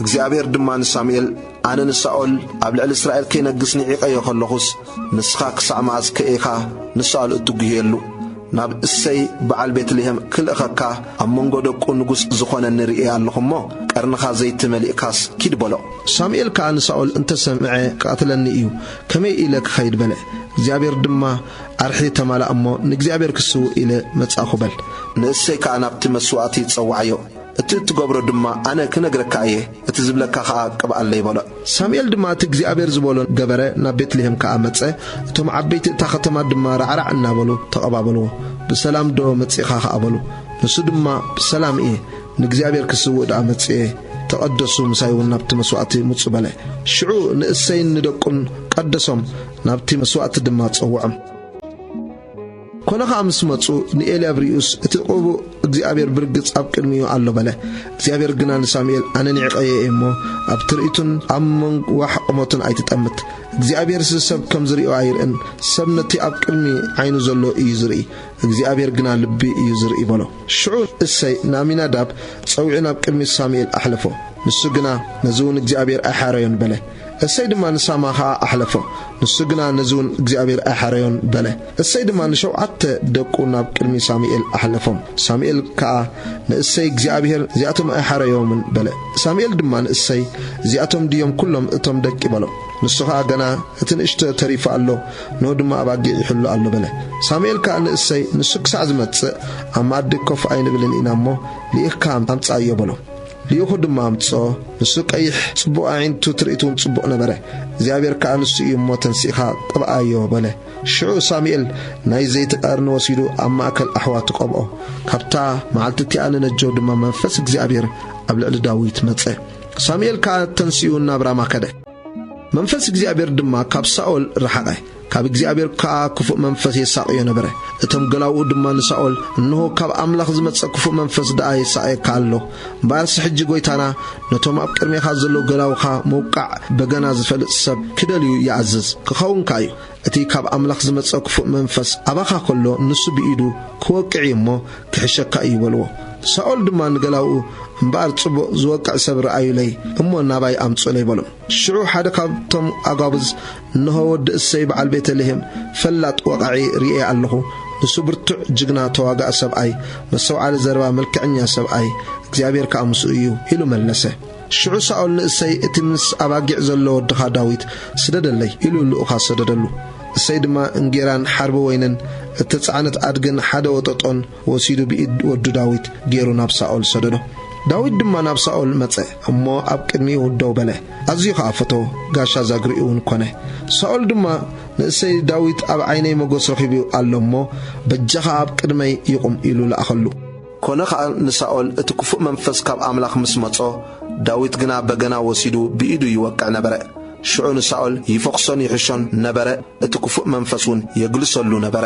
እግዚኣብሔር ድማ ንሳሙኤል ኣነ ንሳኦል ኣብ ልዕሊ እስራኤል ከይነግስ ንዒቐዮ ኸለኹስ ንስኻ ክሳዕ መዓዝ ከኢኻ ንሳኦል እትጕህየሉ ናብ እሰይ በዓል ቤትልሔም ክልእኸካ ኣብ መንጎ ደቁ ንጉሥ ዝኾነኒ ርእየ ኣለኹ እሞ ቀርንኻ ዘይቲ መሊእካስ ኪድ በሎ ሳሙኤል ከኣ ንሳኦል እንተ ሰምዐ ክቐትለኒ እዩ ከመይ ኢለ ክኸይድ በለ እግዚኣብሔር ድማ ኣርሒ ተማልኣ እሞ ንእግዚኣብሔር ክስውእ ኢለ መጻእኹ በል ንእሰይ ከኣ ናብቲ መስዋእቲ ጸውዓዮ እቲ እትገብሮ ድማ ኣነ ክነግረካ እየ፣ እቲ ዝብለካ ኸኣ ቅብኣለይ በሎ። ሳሙኤል ድማ እቲ እግዚኣብሄር ዝበሎ ገበረ፣ ናብ ቤት-ልሄም ከኣ መጸ፣ እቶም ዓበይቲ እታ ኸተማ ድማ ራዕራዕ እናበሉ ተቐባበልዎ። ብሰላምዶ መጺእኻ ኸኣ በሉ። ንሱ ድማ ብሰላም እየ፣ ንእግዚኣብሄር ክስውእ ደኣ መጺኤ፣ ተቐደሱ፣ ምሳይውን ናብቲ መስዋእቲ ምጹ በለ። ሽዑ ንእሴይን ንደቁን ቀደሶም፣ ናብቲ መስዋእቲ ድማ ጸውዖም። ኮነ ኸኣ ምስ መጹ ንኤልያብ ሪኡስ እቲ ቅቡእ እግዚኣብሔር ብርግጽ ኣብ ቅድሚኡ ኣሎ በለ። እግዚኣብሔር ግና ንሳሙኤል ኣነ ኒዕቀዮ እየ እሞ ኣብ ትርኢቱን ኣብ መንግ ዋሕ ቁመቱን ኣይትጠምት። እግዚኣብሔርሲ ሰብ ከም ዝሪኦ ኣይርእን ሰብ ነቲ ኣብ ቅድሚ ዓይኑ ዘሎ እዩ ዝርኢ እግዚኣብሔር ግና ልቢ እዩ ዝርኢ በሎ። ሽዑ እሰይ ንኣሚናዳብ ጸዊዑ ናብ ቅድሚ ሳሙኤል ኣሕለፎ ንሱ ግና ነዚውን እግዚኣብሔር ኣይሓረዮን በለ። እሴይ ድማ ንሳማ ኸኣ ኣሕለፎ፣ ንሱ ግና ነዚውን እግዚኣብሄር ኣይሐረዮን በለ። እሴይ ድማ ንሸውዓተ ደቁ ናብ ቅድሚ ሳሙኤል ኣሕለፎም። ሳሙኤል ከኣ ንእሴይ እግዚኣብሄር እዚኣቶም ኣይሐረዮምን በለ። ሳሙኤል ድማ ንእሴይ እዚኣቶም ድዮም ኵሎም እቶም ደቂ በሎ። ንሱ ኸኣ ገና እቲ ንእሽቶ ተሪፉ ኣሎ፣ እንሆ ድማ ኣባጊዕ ይሕሉ ኣሎ በለ። ሳሙኤል ከኣ ንእሴይ ንሱ ክሳዕ ዝመጽእ ኣብ መኣዲ ኮፍ ኣይንብልን ኢና እሞ ልኢኽካ ኣምጽኣዮ በሎ። ልኢኹ ድማ ኣምጽኦ፣ ንሱ ቀይሕ፣ ጽቡቕ ኣዒንቱ ትርኢቱውን ጽቡቕ ነበረ፣ እግዚኣብሄር ከኣ ንሱ እዩ እሞ ተንሲእካ ቅብኣዮ፣ በለ። ሽዑ ሳሙኤል ናይ ዘይቲ ቀርኒ ወሲዱ ኣብ ማእከል ኣሕዋቱ ቀብኦ። ካብታ መዓልቲ እቲኣ ንነጀው ድማ መንፈስ እግዚኣብሄር ኣብ ልዕሊ ዳዊት መጸ። ሳሙኤል ከኣ ተንሲኡ ናብ ራማ ከደ። መንፈስ እግዚኣብሔር ድማ ካብ ሳኦል ረሓቐ፣ ካብ እግዚኣብሔር ከኣ ክፉእ መንፈስ የሳቕዮ ነበረ። እቶም ገላዉኡ ድማ ንሳኦል፣ እንሆ፣ ካብ ኣምላኽ ዝመጸ ክፉእ መንፈስ ደኣ የሳቕየካ ኣሎ። እምበኣርሲ ሕጂ ጐይታና ነቶም ኣብ ቅድሜኻ ዘለዉ ገላዉኻ መውቃዕ በገና ዝፈልጥ ሰብ ኪደልዩ ይኣዝዝ፣ ኪኸውን ከኣ እዩ። እቲ ካብ ኣምላኽ ዝመጸ ክፉእ መንፈስ ኣባኻ ከሎ ንሱ ብኢዱ ክወቅዕ እዩ እሞ ክሕሸካ እዩ በልዎ። ሳኦል ድማ ንገላዉኡ እምበኣር ጽቡቕ ዝወቅዕ ሰብ ርኣዩለይ እሞ ናባይ ኣምጽኡለይ በሎም። ሽዑ ሓደ ካብቶም ኣጓብዝ እንሆ ወዲ እሰይ በዓል ቤተ ልሄም ፈላጥ ወቓዒ ርእየ ኣለኹ ንሱ ብርቱዕ ጅግና ተዋጋኢ ሰብኣይ መስተውዓሊ ዘረባ መልክዐኛ ሰብኣይ እግዚኣብሄር ከኣ ምስኡ እዩ ኢሉ መለሰ። ሽዑ ሳኦል ንእሰይ፣ እቲ ምስ ኣባጊዕ ዘሎ ወድኻ ዳዊት ስደደለይ፣ ኢሉ ልኡኻት ሰደደሉ። እሰይ ድማ እንጌራን ሓርቢ ወይንን እተጻዕነት ኣድግን ሓደ ወጠጦን ወሲዱ ብኢድ ወዱ ዳዊት ገይሩ ናብ ሳኦል ሰደዶ። ዳዊት ድማ ናብ ሳኦል መጸ እሞ ኣብ ቅድሚኡ ደው በለ፣ ኣዝዩ ኸኣ ፈተዎ፣ ጋሻ ዛግሬኡውን ኰነ። ሳኦል ድማ ንእሰይ፣ ዳዊት ኣብ ዓይነይ መጐስ ረኺቡ ኣሎ እሞ፣ በጃኻ ኣብ ቅድመይ ይቑም፣ ኢሉ ለኣኸሉ። ኰነ ኸኣ ንሳኦል እቲ ክፉእ መንፈስ ካብ ኣምላኽ ምስ መጾ፣ ዳዊት ግና በገና ወሲዱ ብኢዱ ይወቅዕ ነበረ። ሽዑ ንሳኦል ይፈዅሶን ይሕሾን ነበረ፣ እቲ ክፉእ መንፈስ እውን የግልሰሉ ነበረ።